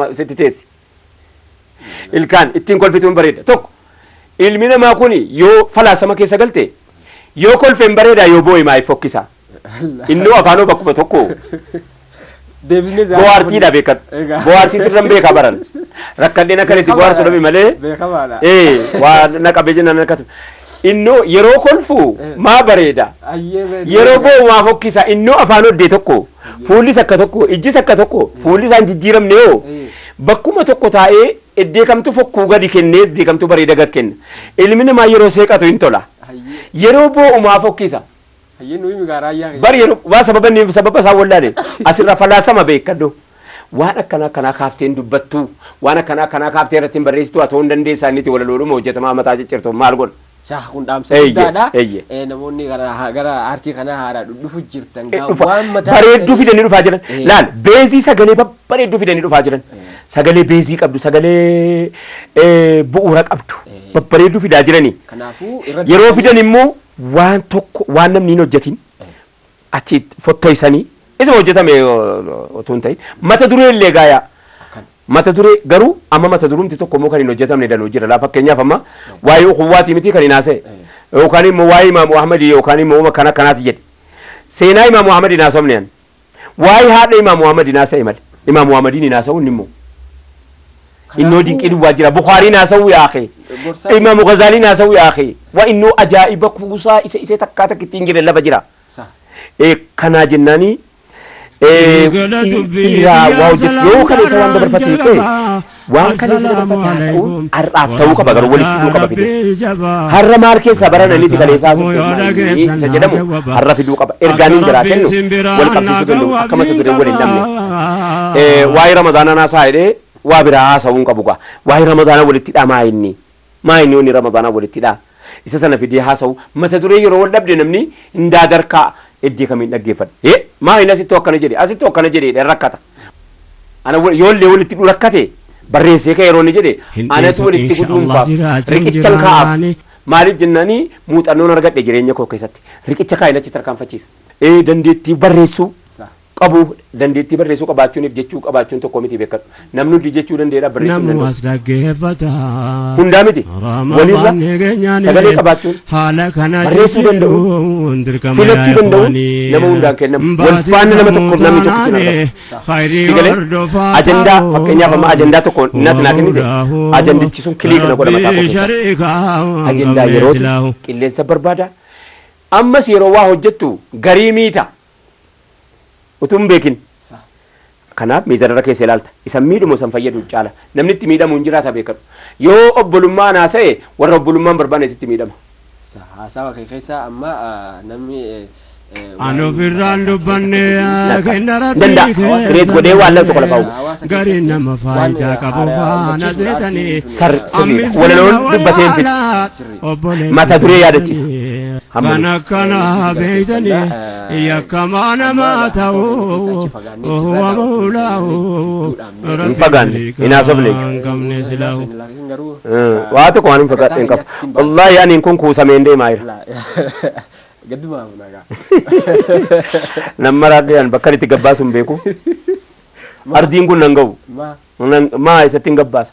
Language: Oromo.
Ma- sitti teessi. Ilkaan ittiin kolfituun bareeda. Tokko ilmi namaa kun yoo falaasama keessa galte yoo kolfeen bareedaa yoo boo'e maayif fokkisa. Innoo afaanoo bakkuma tokko Deebisnee isaa- bohaartiidha beekan. Egaa. Bohaartii sirran beekaa baran. Rakkadheen akka itti bohaarsu dhabe malee. Beekamaadha. Ee waa na qabee jennaan akkatu. Innoo yeroo kolfu maa bareeda. Ayyee bareeda. Yeroo boo'u maa fokkisa. Innoo afaan oddee tokko. Eeyyee. Fuullis akka tokko, ijjis akka tokko, fuulli isaan jijjiiramne hoo Eeyyee. bakkuma tokko taa'ee eddeekamtuu fokkuu gadi kennees deekamtuu bareeda gad kenna. Ilmi namaa yeroo seeqatu hin tola. Hayyee. Yeroo boo'u maa fokkisa? Hayyee nu himi gaa raayyaa kee. Bar yeroo waa sababa inni sababa isaa wallaale asirraa falaasama beekadhu. Waan akkanaa akkanaa kaaftee hin dubbattu. Waan akkanaa akkanaa kaaftee irratti hin barreessitu haa ta'uu hin dandeessaa inni itti walaloodhuma hojjetamaa mataa ciccirtu maal godha? Saah kun dhaamsa Eeyyee, guddaadha. eeyyee. Eh, Namoonni gara gara aartii kanaa haaraa dhudhufu jirtan Eh, gaa dhufa. waan mataa bareedduu keessanii- fidanii dhufaa jiran Eh. laal beezii sagalee babbareedduu fidanii dhufaa jiran sagalee beezii qabdu sagalee eh, bu'uura qabdu Eh. babbareedduu fidaa jiranii Kanaafuu irratti yeroo fidan immoo waan tokko waan namni hin hojjetin achi fottoysanii isuma hojjetame otuu hin ta'in mata duree illee gaayaa Akkan. mata duree garuu amma mata durumti tokko immoo kan hin hojjetamne danuu jira laa fakkeenyaaf amma waa'ee ukuwwaati miti kan hin haasa'e yookaan immoo waa'ee imaamu ahmadi yookaan immoo uma kana kanaati jedhe seenaa imaamu ahmadi hin haasofne ani waa'ee haadha imaamu ahmadi hin haasa'e male imaamu ahmadiin hin haasa'u inni immoo innoo dinqii duwwaa jira bukaariin haasawuu yaake Gorsaa- imaamu gazaaliin haasawuu yaake wa innoo ajaa'iba kuusaa isa isee takkaa takka ittiin jire lafa jira Sa. Eh, kanaa jennaani eh, dhiiraa waa hojjetu yoo kana isa waan dabarfate hiike waan kana isa dabarfate haasa'uun har'aaf ta'uu qaba garuu walitti hidhuu qaba fide har'a maal keessaa barana inni tikaleessaa isa jedhamu har'a fiduu qaba ergaan hin biraa kennu wal qabsiisuu danda'u akka mata duree wal hin dhabne Ee waa'ee ramadaanaan haasa'a jedhee waa biraa haasa'uu hin qabu gaa. Waa'ee ramadaanaa walitti hidhaa maa inni? Maa inni wanni ramadaanaa walitti hidhaa? Isa sana fidee haasa'u mata duree yeroo wal dhabde namni hin daadarkaa eddee kamiin dhaggeeffadhe. Ee maa inni asittuu akkana jedhe asittuu akkana jedhe jedhee rakkata. Ana wa- yoollee walitti hidhuu rakkate barreessee ka'e yeroo inni jedhe Hin anatu dhiisu walitti insha guduunfaaf Allah jiraachuu riqichan jira kaa'aaf. waani. Maaliif jennaani muuxannoon argadhe jireenya koo keessatti riqicha kaa'in achi tarkaanfachiisa. Ee dandeettii barreessuu qabu. Dandeettii barreessuu qabaachuuniif jechuu qabaachuun tokko miti bekkadhu. Namni hundi jechuu danda'eedha barreessuu hin danda'u. Hundaa miti. Waliirra sagalee qabaachuun barreessuu danda'uun filachuu danda'uun nama hundaan kennama. Wal faanna nama tokkoof namni tokkichi hin argamu. Si galee? Ajandaa fakkeenyaaf amma ajandaa tokko natti naa kennite ajandichi sun kiliik na godha mataa koo keessa. Ajandaa yerooti. Qilleensa barbaada. Ammas yeroo waa hojjettu garii miita. Utuu hin beekin. Kanaaf miizanarra keessa ilaalta. Isan miidhumo san fayyadu caala. Namni itti miidhamu hin jiraata beekadhu. Yoo obbolummaa an haasa'e warra obbolummaa hin barbaannetu itti miidhama. Haasawa kee keessa amma namni An ofirraan dubbanne kenna rabbii Danda'a. Kireet godhee waan lama tokko lafa uuma. Gariin nama faayidaa qabu faana seetanii. Sirriidha. Walaloon dubbatee hin fixu. mata duree yaadachiisa. Kan akkanaa beektanii yakkamaa namaa ta'uu wama hulaa'uu Hin fagaanne, hin haasofne jechuudha. hin qabne silaa'uu. Waa tokko waan hin fagaadhe hin qabu. Wallaahi ani kun kuusameen deemaa jira. Nan maraadhee an bakka itti gabbaasu hin beeku. Ardiin kun nan ga'u. Nan- Maa eessatti hin gabbaasa.